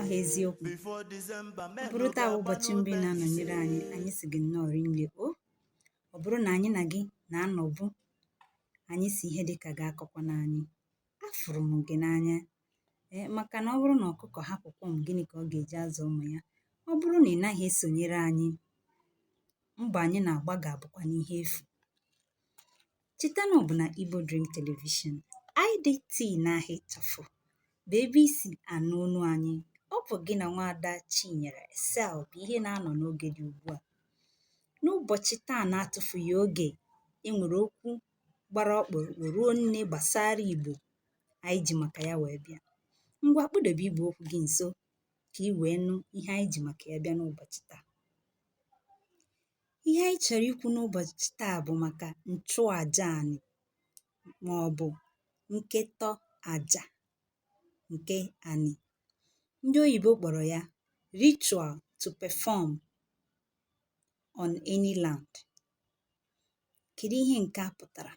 aha eziokwu ọ bụrụ taa bụ ụbọchị mbụ ị na-anọnyere anyị anyị sị gị nnọọ rinne o ọ bụrụ na anyị na gị na-anọbu anyị sị ihe dịka gị akọkwana anyị afụrụ m gị n'anya ee maka na ọ bụrụ na ọkụkọ hapụ kwọm gịnị ka ọ ga-eji azụ ụmụ ya ọ bụrụ na ị naghị esonyere anyị mbọ anyị na-agba ga-abụkwanụ ihe efu cheta na ọ bụ na Igbo Dream Television IDT n'aha ịchafụ bụ ebe i si anụ onu anyị ọ bụ gị na nwaada Chinyere Sel bụ ihe na-anọ n'oge dị ugbu a n'ụbọchị taa na-atụfughị oge e nwere okwu gbara ọkpụrụkpụ ruo nne gbasara Igbo anyị ji maka ya wee bịa ngwa kpụdebe igbe okwu gị nso ka ị wee nụ ihe anyị ji maka ya bịa n'ụbọchị taa ihe anyị chọrọ ikwu n'ụbọchị taa bụ maka nchụaja anị ma ọ bụ nketọ aja nke anị ndị oyibo kpọrọ ya ritual to perform on any land kedu ihe nke a pụtara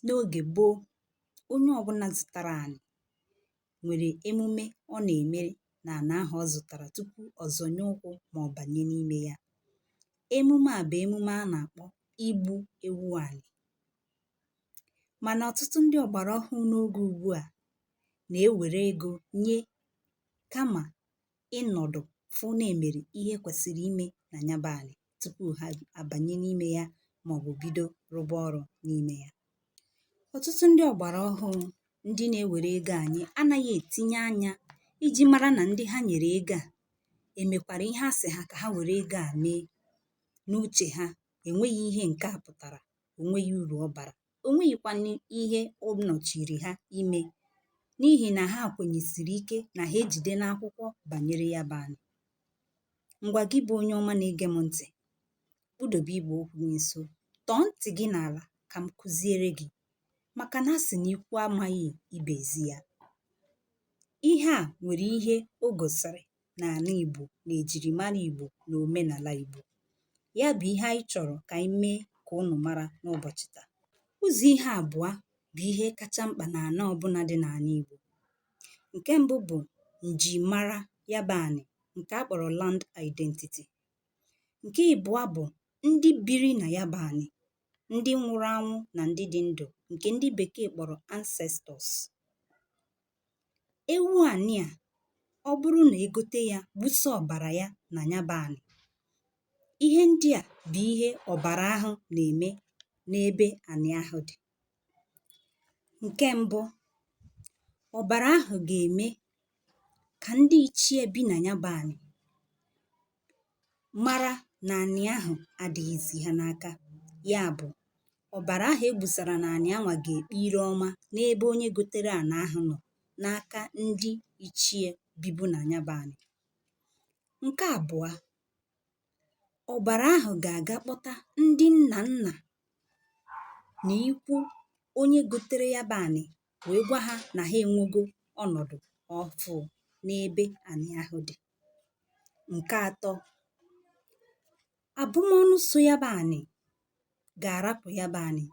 n'oge gboo onye ọbụna zụtara anị nwere emume ọ na-emere na ana ahụ ọ zụtara tupu ọ zọnye ụkwụ ma ọ banye n'ime ya. Emume a bụ emume a na-akpọ igbu ewu anị. Mana ọtụtụ ndị ọgbara ọhụụ n'oge ugbu a na-ewere ego nye kama ịnọdụ fụ na e mere ihe kwesịrị ime na ya bụ anị tupu ha abanye n'ime ya maọbụ bido rụba ọrụ n'ime ya ọtụtụ ndị ọgbara ọhụụ ndị na-ewere ego enye anaghị etinye anya iji mara na ndị ha nyere ego a emekwara ihe a sị ha ka ha were ego a mee n'uche ha enweghị ihe nke a pụtara o nweghị uru ọ bara o nweghịkwanụ ihe ọ nọchiri ha ime n'ihi na ha kwenyesiri ike na ha ejidena akwụkwọ banyere ya bụ anị ngwa gị bụ onye ọma na-ege m ntị kpụdobe igbe okwu gị nso tọọ ntị gị n'ala ka m kụziere gị maka na a sị na ikwu amaghị ibe ezi ya ihe a nwere ihe o gosiri n'ana Igbo na ejirimara Igbo na omenala Igbo. Ya bụ ihe anyị chọrọ ka anyị mee ka unu mara n'ụbọchị taa. Ụzọ ihe abụọ bụ ihe kacha mkpa n'ana ọbụna dị n'ana Igbo. Nke mbụ bụ njimara ya bụ anị nke a kpọrọ land identity. Nke ịbụọ bụ ndị biri na ya bụ anị, ndị nwụrụ anwụ na ndị dị ndụ nke ndị bekee kpọrọ ancestors. ewu ànị à ọ bụrụ nà e gote yā gbusa ọ̀bàrà ya nà ya bụ̄ ànị̀ ihe ndị à bụ̀ ihe ọ̀bàrà ahụ̄ nà-ème n'ebe ànị̀ ahụ̀ dị̀ ǹke mbụ ọ̀bàrà ahụ̀ gà-ème kà ndị ichie bi nà ya bụ̄ ànị̀ mara na anị ahụ adịghịzị ha n'aka ya bụ ọbara ahụ e gbusara na anị anwa ga-ekpe ire ọma n'ebe onye gotere ana ahụ nọ n'aka ndị ichie bibu na ya bụ anị nke abụa ọbara ahụ ga-aga kpọta ndị nna nna na ikwu onye gotere ya bụ anị wee gwa ha na ha enwego ọnọdụ ọfụ n'ebe anị ahụ dị nke atọ abụmọnụ so ya bụ anị ga-arapụ ya bụ anị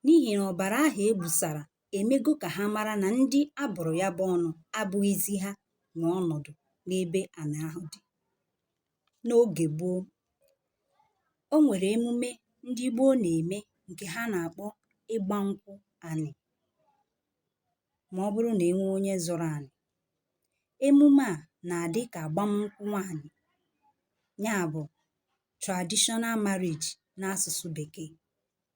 n'ihi na ọbara ahụ e gbusara emego ka ha mara na ndị a bụrụ ya bụ ọnụ abụghịzi ha nwe ọnọdụ n'ebe anị ahụ dị n'ogè gboo o nwèrè emume ndị gboo nà-ème ǹkè ha nà-àkpọ ịgbȧ nkwụ ànị̀ mà ọ bụrụ nà e nwee onye zụrụ ànị̀ emume à nà-àdị kà àgbam nkwụ nwaànyị̀ ya bụ̀ traditional marriage n'asụ̀sụ bèkee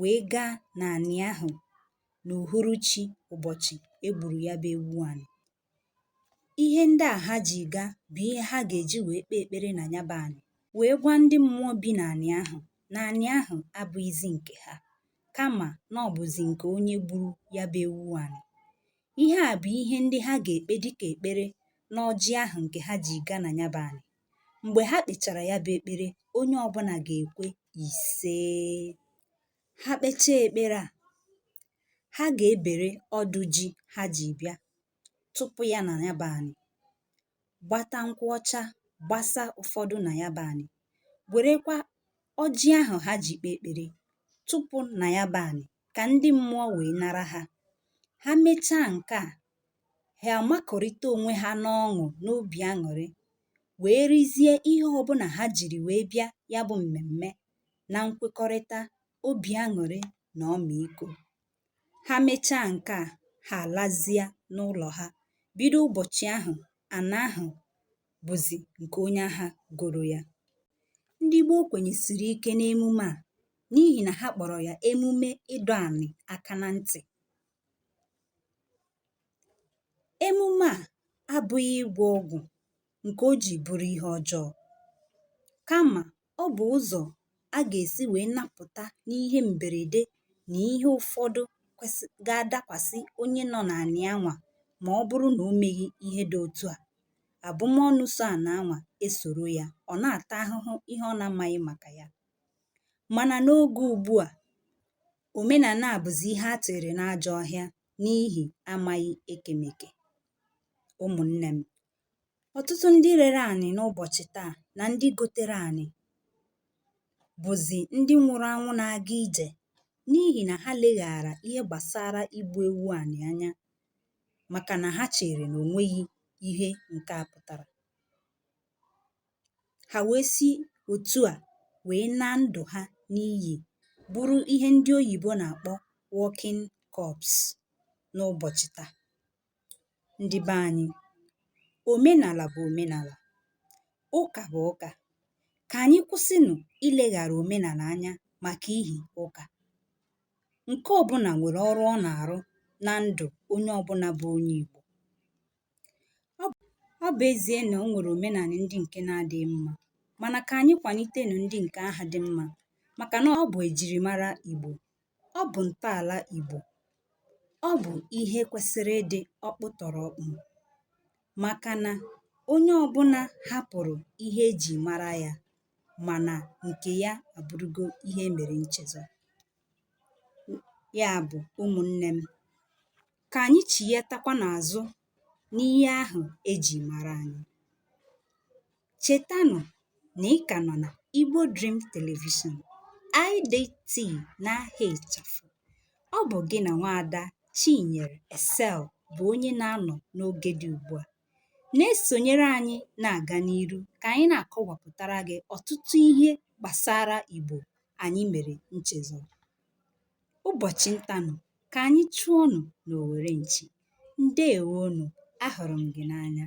wee gaa n'anị ahụ n'uhuruchi ụbọchị e gburu ya bụ ewu anị. Ihe ndị a ha ji gaa bụ ihe ha ga-eji wee kpee ekpere na ya bụ anị wee gwa ndị mmụọ bi n'anị ahụ na anị ahụ abụghịzi nke ha kama na ọ bụzi nke onye gburu ya bụ ewu anị. Ihe a bụ ihe ndị ha ga-ekpe dịka ekpere n'ọjị ahụ nke ha ji gaa na ya bụ anị. mgbe ha kpechara ya bụ ekpere onye ọbụna ga-ekwe ise ha kpechaa ekpere a ha ga-ebere ọdụ ji ha ji bịa tụpụ ya na ya bụ anị gbata nkwụ ọcha gbasa ụfọdụ na ya bụ anị werekwa ọjị ahụ ha ji kpee ekpere tụpụ na ya bụ anị ka ndị mmụọ wee nara ha ha mechaa nke a ha amakọrịta onwe ha n'ọṅụ n'obi aṅụrị wee rizie ihe ọbụna ha jiri wee bịa ya bụ mmemme na nkwekọrịta obi aṅụrị na ọmịiko ha mechaa nke a ha alazie n'ụlọ ha bido ụbọchị ahụ ana ahụ bụzi nke onye ahụ goro ya ndị gboo kwenyesiri ike n'emume a n'ihi na ha kpọrọ ya emume ịdọ anị aka na ntị emume à abụghị ịgwọ ọgwụ̀ ǹkè o jì bụrụ ihe ọjọọ kamà ọ bụ̀ ụzọ̀ a gà-èsi wèe napụ̀ta n'ihe m̀bèrède nà ihe ụfọdụ ga-adakwàsị onye nọ n'ànị anwà mà ọ bụrụ nà o meghị ihe dị otu à àbụmọnụ so ànà anwà esòro ya ọ̀ na-àta ahụhụ ihe ọ na-amaghị màkà ya mànà n'oge ùgbu à Omenala a bụzi ihe a tụnyere n'ajọ ọhịa n'ihi amaghị ekemeke. Ụmụnne m, ọtụtụ ndị rere anị n'ụbọchị taa na ndị gotere anị bụzi ndị nwụrụ anwụ na-aga ije n'ihi na ha leghaara ihe gbasara igbu ewu anị anya maka na ha chere na o nweghị ihe nke a pụtara. ha wee si otu a wee naa ndụ ha n'iyi bụrụ ihe ndị oyibo na-akpọ walking corpse n'ụbọchị taa. Ndị be anyị, omenala bụ omenala, ụka bụ ụka. Ka anyị kwụsịnụ ileghara omenala anya maka ihi ụka. Nke ọbụna nwere ọrụ ọ na-arụ na ndụ onye ọbụna bụ onye Igbo. Ọ bụ ezie na o nwere omenanị ndị nke na-adịghị mma, mana ka anyị kwanitenụ ndị nke ahụ dị mma maka na ọ bụ ejirimara Igbo, ọ bụ ntọala Igbo, ọ bụ ihe kwesịrị ịdị ọkpụtọrọkpụ maka na onye ọbụna hapụrụ ihe e ji mara ya ma na nke ya abụrụgo ihe e mere nchezọ. Ya bụ ụmụnne m, Ka anyị chighatakwanụ azụ n'ihe ahụ e ji mara anyị. Chetanụ na ị ka nọ na Igbo Dream Television, IDT n'aha ịchafụ. Ọ bụ gị na nwaada Chinyere Esel bụ onye na-anọ n'oge dị ugbu a. Na-esonyere anyị na-aga n'iru ka anyị na-akọwapụtara gị ọtụtụ ihe gbasara Igbo anyị mere nchezọ. ụbọchị ntanụ ka anyị chụọnụ n'owere nchi ndewonụ ahụrụ m gị n'anya